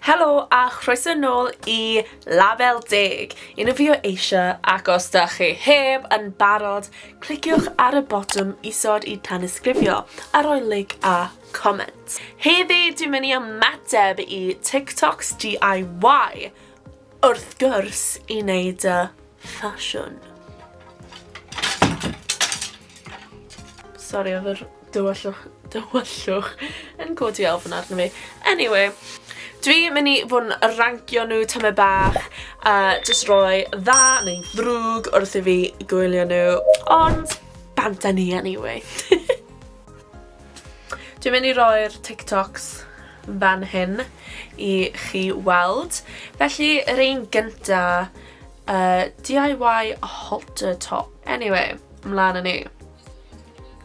Helo a chroeso nôl i Label Deg! Un o fi o eisiau ac os da chi heb yn barod, cliciwch ar y botwm isod i tanysgrifio a roi like a comment. Heddi dwi'n mynd i ymateb i TikToks DIY wrth gwrs i wneud y ffasiwn. Sori oedd yr Dywyllwch, dywyllwch yn codi ofn arno fi. Anyway, dwi mynd i fod yn rancio nhw tyma bach a just roi dda neu ddrwg wrth i fi gwylio nhw. Ond, bant â ni anyway. Dwi'n mynd i roi'r TikToks fan hyn i chi weld. Felly, yr un gynta, uh, DIY halter top. Anyway, ymlaen yn ni.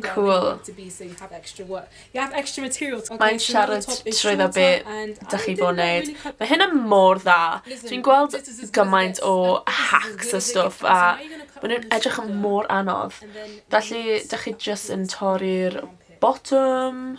Cŵl. Mae'n siarad trwyddo be dach chi fod neud. Mae hynna mor dda. Dwi'n gweld gymaint o hacks a stwff a ma' nw'n edrych yn mor anodd. Felly 'dach chi jyst yn torri'r botwm?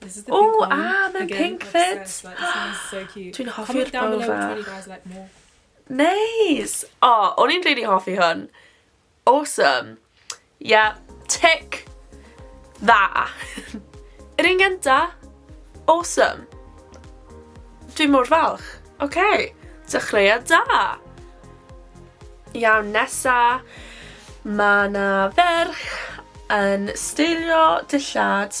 This is the Ooh, pink one. ah, mae'n Again, pink like fit. Says, like, this is so cute. Dwi'n hoffi'r bow fach. Guys, like, more. Neis! O, oh, o'n i'n really hoffi hwn. Awesome. Yeah, tick. Dda. Yr un gynta, awesome. Dwi'n mor falch. Oce, okay. dechreuad da. Iawn, nesa, mae na ferch yn steilio dillad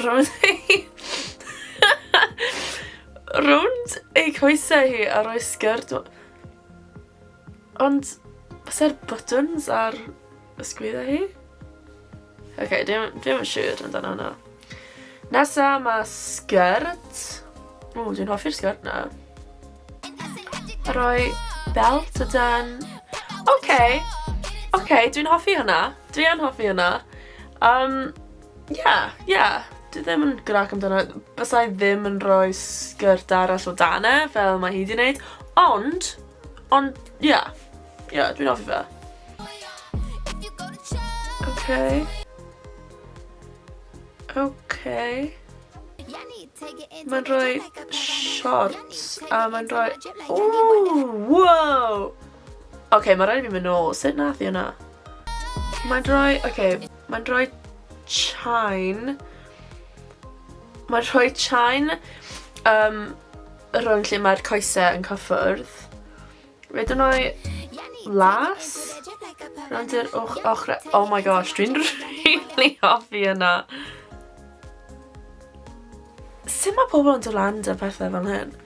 rownd ei... rownd ei coesau hi a rhoi sgyrd... Ond, fysa'r buttons ar y sgwydda hi? Oce, okay, dwi'n yn siŵr amdano hwnna. Nesa, mae sgyrd. O, dwi'n hoffi'r sgyrd na. A rhoi belt o dan. Oce, okay. oce, okay, dwi'n hoffi hwnna. Dwi'n hoffi hwnna. Um, Ie ie. Dwi ddim yn grac amdano fe. Bysa i ddim yn rhoi sgyrts arall o dan e fel mae hi 'di neud ond ond ie. Ie dwi'n hoffi fe. Oce. Oce. Mae'n rhoi siorts a mae'n rhoi... Ww! Wow! Oce, mae rhaid i fi mynd nôl. Sut nath i hwnna? Mae'n rhoi... Oce. Mae'n rhoi chain. Mae'n rhoi chain um, rhwng lle mae'r coesau yn cyffwrdd. Rydw yn rhoi las. Rwy'n i'r och ochrau. Oh my gosh, dwi'n really hoffi yna. Sut mae pobl yn dod lan da pethau fel hyn?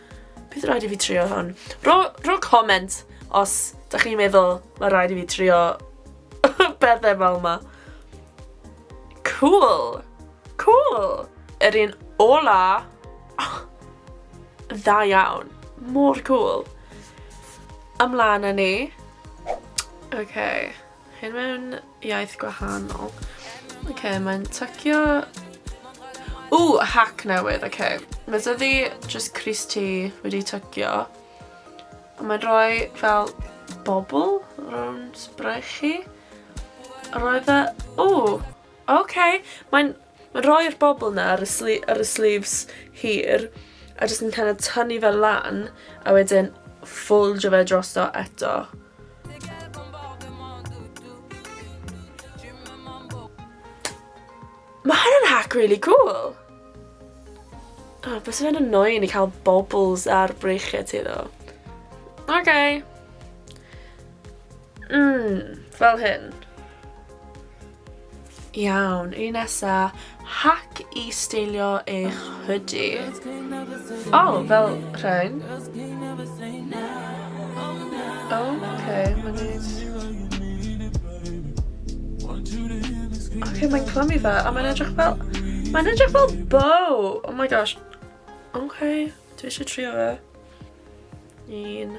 Bydd rhaid i fi trio hwn. Ro, ro comment os da chi'n meddwl mae rhaid i fi trio bethau fel yma. Cool. Cool. Yr un ola. Oh, dda iawn. Mor cool. Ymlaen â ni. Okay. Hyn mewn iaith gwahanol. Oce, okay, mae'n tycio... O, hack newydd, oce. Okay. Mae dyddi just Chris T wedi tycio. A mae'n rhoi fel bobl rhwng sbrych chi. Roedd e... O, oce. Okay. Mae'n Mae'n rhoi'r bobl 'na ar y sli- ar y sleeves hir a jyst yn kinda tynnu fe lan a wedyn ffoldio fe drosto eto. Mae hynna'n hack really cool! O, oh, bys fe'n annoying i cael bobls ar breichiau ti ddo. Okay. Mmm, fel hyn. Iawn, un nesa, hack i steilio eich hoodie. O, oh, fel rhain. Okay, mae'n neis. Okay, mae'n clymu fe, a mae'n edrych fel... Mae'n edrych fel bow! Oh my gosh. Okay, dwi eisiau trio fe. Un.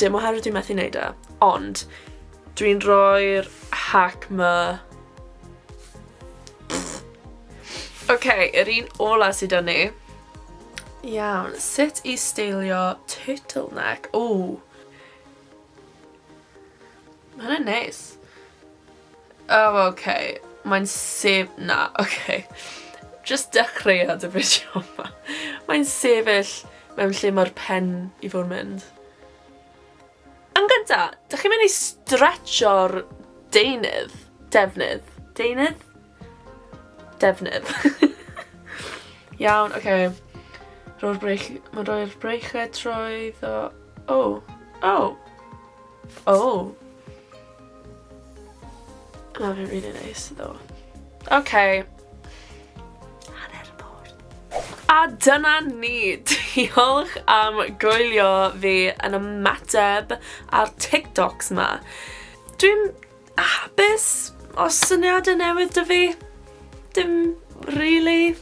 Dim oherwydd dwi methu neud e, ond dwi'n rhoi'r hack 'ma Oce, yr un ola sy 'da ni. Iawn, sut i steilio turtleneck? Ww! Ma' hwnna'n neis. Oh ok. Mae'n sef- na ok. Jyst dechreuad y fideo yma. Mae'n sefyll mewn lle mae'r pen i fod yn mynd. Yn gynta, dych chi'n mynd i stretcho'r deunydd, defnydd, deunydd? Defnydd. Iawn, oce. Rho'r breich... Mae'n rhoi'r breichiau trwy ddo... O! O! O! Mae fe'n rili neis, ddo. Oce. Hanner bord. A dyna ni! Diolch am gwylio fi yn ymateb ar TikToks ma. Dwi'n A hapus? Os syniadau newydd da fi? Dim really.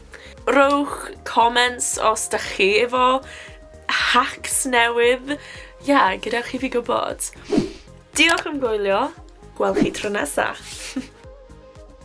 Rowch comments os da chi efo hacks newydd. Ia, gyda chi fi gwybod. Diolch am gwylio. Gwel chi tro nesa.